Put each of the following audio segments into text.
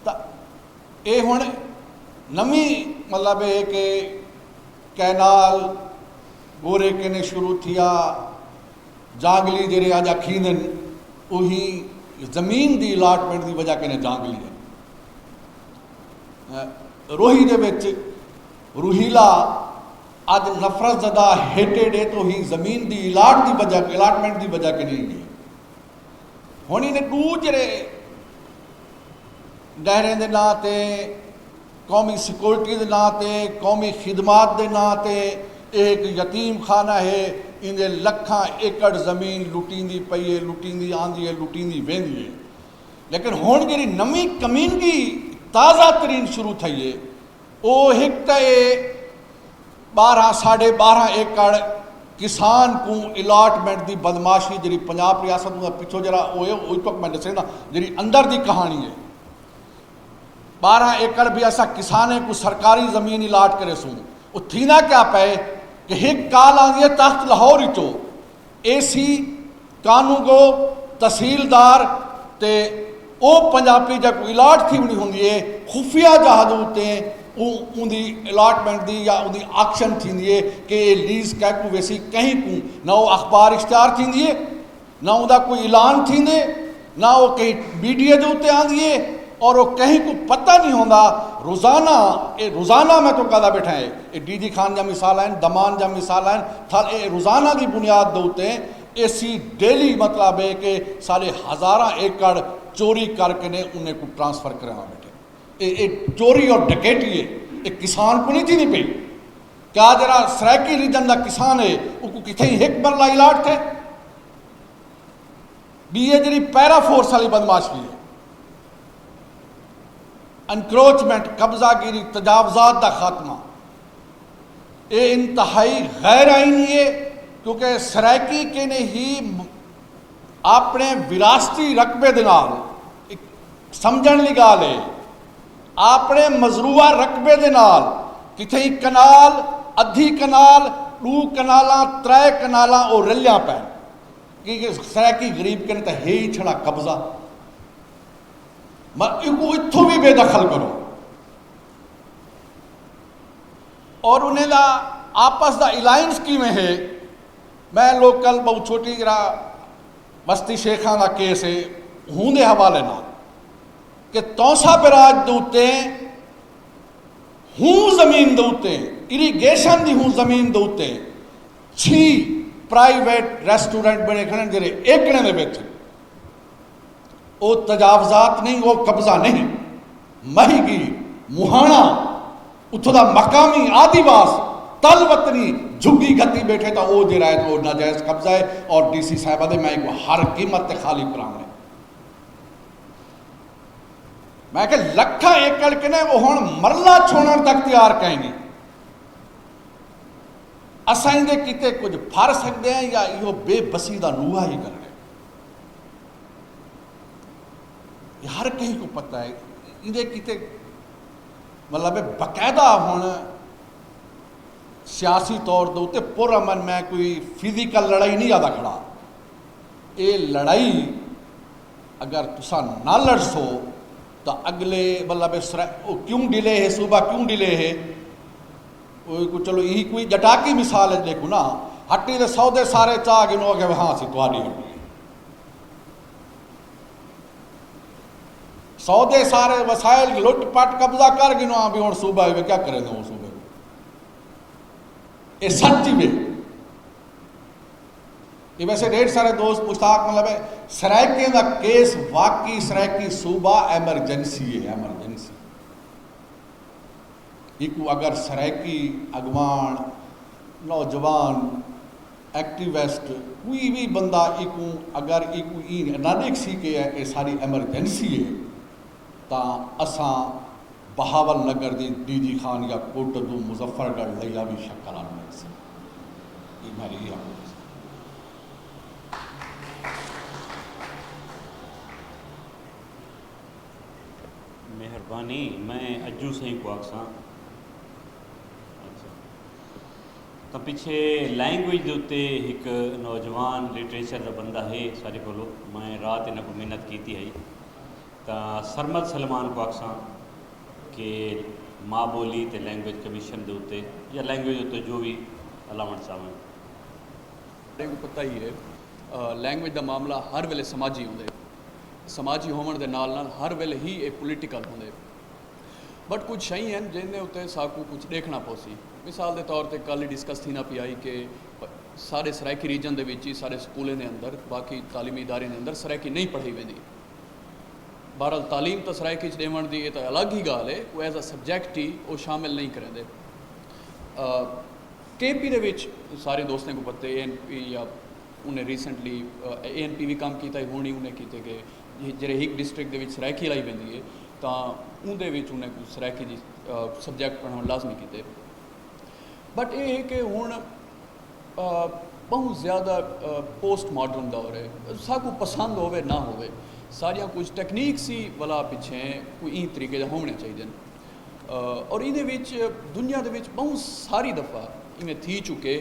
تاں اے ہن نویں مطلب ہے کہ کینال گورے کنے شروع تھیا جانگلی جڑے اج اکھیندن اوہی زمین دی الاٹمنٹ دی وجہ کنے جانگلی ہے روہی دے وچ روہیلا اج نفرت زدہ ہیٹیڈ ہے تو ہی زمین دی الاٹ دی وجہ الاٹمنٹ دی وجہ کنے ہی ہے ہݨ انہیں ݙوجھرے ڈہریں دے ناں تے قومی سیکورٹی دے ناں تے قومی خدمات دے ناں تے اے ہک یتیم خانہ ہے ایندے لکھاں ایکڑ زمین لٹیندی پئی ہے لٹیندی آندی ہے لٹیندی ویندی ہے لیکن ہݨ جیڑھی نویں کمینگی تازہ ترین شروع تھئی ہے او ہک تے ٻارہاں ساڈھے ٻارہاں ایکڑ کسان کوں الاٹمنٹ دی بدمعاشی جیڑھی پنجاب ریاست اوندا پچھو جیڑھا او اے او تک میں ڈسیندا جیڑھی اندر دی کہانی اے ٻارہاں ایکڑ بھی اساں کسانیں کوں سرکاری زمین الاٹ کریسوں او تھیندا کیا پئے کہ ہک کال آندی اے تخت لاہور اچوں اے سی، کانوگو، تحصیلدار تے او پنجاپی جیکوں الاٹ تھی ونی ہوندی اے خفیہ جہادو تے اوں اوندی الاٹمنٹ دی یا اوندی آکشن تھیندی اے کہ اے لیز کیکوں ویسی کہیں کوں نہ او اخبار اشتہار تھیندی اے نہ اوندا کوئی اعلان تھیندے نہ او کہیں میڈیا دے اتے آندی اے اور او کہیں کوں پتہ نی ہوندا روزانہ اے روزانہ میں توں کہدا بیٹھاں اے اے ڈی جی خان جیاں مثالاں ہن دمان جیاں مثالاں ہن تھل اے روزانہ دی بنیاد دے اتے ایسی ڈیلی مطلب اے کہ ساڈے ہزاراں ایکڑ چوری کر کے نے انہیں کوں ٹرانسفر کریواں بیٹھے اے اے چوری اور ڈکیٹی اے اے کسان کوں نی تھیندی پئی کیا جیڑا سرائیکی ریجن دا کسان اے اوکوں کتھے ہک مرلہ الاٹ تھے۔ ڈی اے جیڑھی پیرا فورس آلی بدمعاشی اے، انکروچمنٹ، قبضہ گیری، تجاوزات دا خاتمہ، اے انتہائی غیر آئینی اے کیونکہ سرائیکی کینی ہی آپنڑے وراثتی رقبے دے نال سمجھنڑ آلی گالھ اے، آپنڑے مزروعہ رقبے دے نال کتھئیں کنال، ادھی کنال، ڈو کنالاں، ترے کنالاں او رلیاں پئن۔ کیونکہ سرائیکی غریب کن تاں ہے ای چھڑا قبضہ مر ایکوں اتھوں وی بے دخل کرو اور انہیں دا آپس دا الائنس کیویں ہے میں لوگ کل بہت چھوٹی جرا بستی شیخاں دا کیس ہے ہوں دے حوالے نہ کہ تونسا براج دوتے ہوں زمین دوتے اریگیشن دی ہوں زمین دوتے چھی پرائیویٹ ریسٹورنٹ بنڑے کھڑن جیرے ایکڑیں دے وچ ہن او تجاوزات نہیں او قبضہ نہیں مہی گی مہانا اتھوں دا مقامی آدی واس تل وطنی جھگی گھتی بیٹھے تا او جیرا ہے او ناجائز قبضہ ہے اور ڈی سی صاحبہ دے میں کو ہر قیمت تے خالی کراؤں ہے میں کہ لکھا ایکڑ کنے وہ ہن مرلہ چھوڑن تک تیار کہیں گے اساں ایندے کیتے کجھ پھر سگدے ہیں یا ایہو بے بسی دا نوحہ ہی کرݨے؟ ایہ ہر کہیں کوں پتہ ہے ایندے کیتے مطلب ہے باقاعدہ ہن سیاسی طور دے اتے پر امن میں کوئی فزیکل لڑائی نہیں آدا کھڑا اے لڑائی اگر تساں نہ لڑسو تاں اگلے مطلب ہے کیوں ڈیلے ہے صوبہ کیوں ڈیلے ہے اوئے کوں چلو ایہی کوئی ڄٹاکی مثال اچ ݙیکھوں نا ہٹی دے سودے سارے چا گھن او آکھیا ہاں اسی تہاݙی ہٹی اے سودے سارے وسائل لٹ پٹ قبضہ کر گھن آں بھی ہن صوبہ اے کیا کرے دوں صوبہ اے سچ وے یہ ویسے ڈیڑھ سارے دوست مشتاق مطلب ہے سرائیکیں دا کیس واقعی سرائیکی صوبہ ایمرجنسی ہے ایمرجنسی اینکوں اگر سرائیکی اڳواݨ، نوجوان، ایکٹیوسٹ کوئی وی بندہ اینکوں اگر اینکوں ایں نہ ݙیکھسی کہ اے ساݙی ایمرجنسی اے تاں اساں بہاول نگر دی ڈی جی خان یا کوٹہ دو مظفر گڑھ لیا وی شکل آن ملسی اے میں لی آکھوں تھیسی۔ مہربانی میں اجو سائیں کو آکساں تو پیچھے لینگویج دے اتنے ایک نوجوان لٹریچر دا بندہ ہے سارے کو میں رات انہوں کو محنت کیتی ہے تو سرمد سلمان کو آخساں کہ ماں بولی تے لینگویج کمیشن دے اتنے یا لینگویج اتنے جو بھی الاون چاہوں پتہ ہی ہے لینگویج دا معاملہ ہر ویلے سماجی ہوندے سماجی ہووݨ دے نال نال ہر ویلھے ہی اے پولیٹیکل ہوندے بٹ کجھ شئیں ہن جیندے اتے ساکوں کجھ ݙیکھݨا پوسی مثال دے طور تے کل ای ڈسکس تھینا پیا ہئی کہ سارے سرائیکی ریجن دے وچ ہی سارے سکولیں دے اندر باقی تعلیمی اداریاں دے اندر سرائیکی نہیں پڑھائی ویندی بہرحال تعلیم تاں سرائیکی چ ݙیوݨ دی اے تاں الگ ہی ڳالھ اے او ایز اے سبجیکٹ ہی او شامل نہیں کریندے کے پی دے وچ سارے دوستیں کوں پتے اے این پی یا انہیں ریسنٹلی اے این پی وی کم کیتا ہی ہونی انہیں کیتے کہ جڑے ہک ڈسٹرکٹ دے وچ سرائیکی لائی ویندی ہے تاں اون دے وچ انہیں کو سرائیکی دی سبجیکٹ پڑھاون لازمی کیتے بٹ اے ہے کہ ہن بہت زیادہ پوسٹ ماڈرن دور ہے ساکو پسند ہوئے نہ ہوئے ساریاں کچھ ٹیکنیک سی والا پیچھے کوئی این طریقے دے ہونے چاہیے اور یہ دنیا دے وچ بہت ساری دفعہ انہیں تھی چکے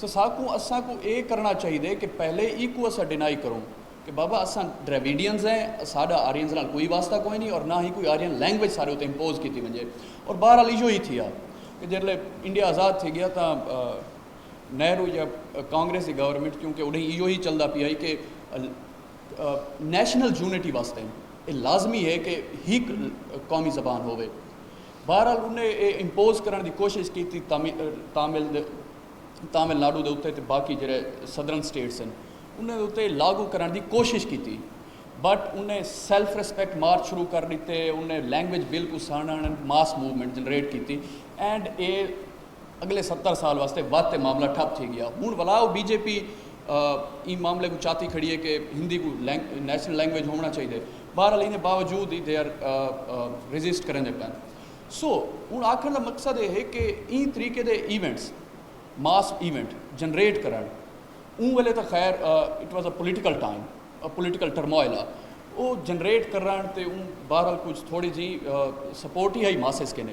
سساکوں اساں کوں اے کرنڑاں چاہیدے کہ پہلے ایکوں اساں ڈینائی کروں کہ بابا اساں ڈراویڈینز ہیں اساڈا آرینز نال کوئی واسطہ کوئی نی اور نہ ہی کوئی آرین لینگویج ساڈے اتے امپوز کیتی ونجے اور بہرحال ایہو ہی تھیا کہ جیرلے انڈیا آزاد تھی گیا تاں نہرو یا کانگریس دی گورنمنٹ کیونکہ اڈھیں ایہو ہی چلدا پیا ہی کہ نیشنل یونٹی واسطے اے لازمی ہے کہ ہیک قومی زبان ہووے۔ بہرحال انہیں اے امپوز کرݨ دی کوشش کیتی تامل دے تامل ناڈو دے اتے تے باقی جیرھے سدرن اسٹیٹس ہن انہیں دے اتے لاگو کرݨ دی کوشش کیتی بٹ انہیں سیلف ریسپیکٹ مارچ شروع کر ݙتے انہیں لینگویج بل کوں سانݨݨ ماس موومنٹ جنریٹ کیتی اینڈ اے اگلے ستر سال واسطے ودھ تے معاملہ ٹھپ تھی گیا ہن ولا او بی جے پی ایں معاملے کوں چاتی کھڑی ہے کہ ہندی کوں نیشنل لینگویج ہووݨا چاہیدے بہرحال ایندے باوجود ای دے آر ریزسٹ کریندے پئن سو ہن آکھݨ دا مقصد اے ہے کہ ایں طریقے دے ایونٹس ماس ایونٹ جنریٹ کرݨ اوں ویلے تاں خیر it was a political time political turmoil آ او جنریٹ کرݨ تے اوں بہرحال کچھ تھوڑی جی سپورٹ ہی ہئی ماسز کنے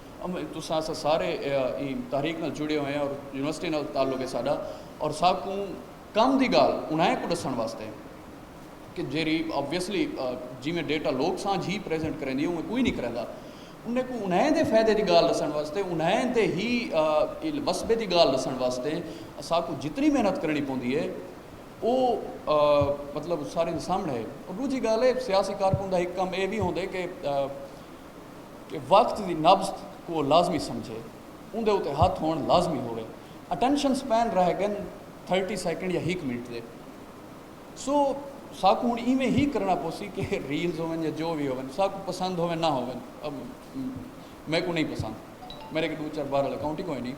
تساں اساں سارے ایں تحریک نال جڑے ہوئے ہیں اور یونیورسٹی نال تعلق ہے ساڈا اور ساکوں کم دی گال انہائیں کو ڈسن واسطے کہ جیری آبویسلی جی میں ڈیٹا لوک سانجھ ہی پریزنٹ کریں دی اوہ کوئی نہیں کریں دا انہیں کو انہیں دے فائدے دی گال ڈسن واسطے انہیں دے ہی وسبے دی گال ڈسن واسطے ساکوں جتنی محنت کرنی پوندی ہے او مطلب سارے سامنے ہے اور دوجی گال ہے سیاسی کارکن دا ایک کم اے بھی ہوندے کہ کہ وقت دی نبض کوں لازمی سمجھے، اوندے اتے ہتھ ہوݨ لازمی ہووے، اٹنشن سپین رہ گن تھرٹی سیکنڈ یا ہک منٹ دے، سو ساکوں ہݨ ایویں ہی کرݨا پوسی کہ ریلز ہوون یا جو وی ہوون ساکوں پسند ہوون نہ ہوون میکوں نہیں پسند میݙے اڳے ݙو چار بہرحال اکاؤنٹ ہی کوئی نہیں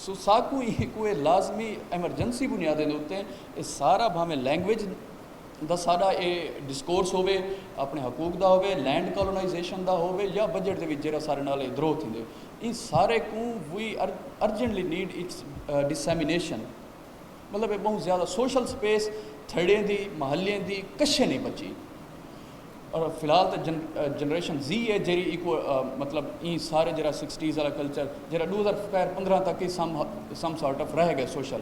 سو ساکوں ایکوں اے لازمی ایمرجنسی بنیادیں دے اتے اے سارا بھاویں لینگویج دا ساڈا اے ڈسکورس ہووے اپنے حقوق دا ہووے لینڈ کالونائزیشن دا ہووے یا بجٹ دے وچ جیرا سارے نال اے درو تھیندے ایں سارے کوں وی ارجنٹلی نیڈ اٹس ڈسیمینیشن مطلب اے بہوں زیادہ سوشل سپیس تھڑیں دی محلیاں دی کشے نہیں بچی اور فی الحال تے جن جنریشن زی اے جیری ایکو مطلب ایں سارے جیرا سکسٹیز والا کلچر جیرا ڈو ہزار پندرہ تک ہی سم سم سارٹ آف رہ گئے سوشل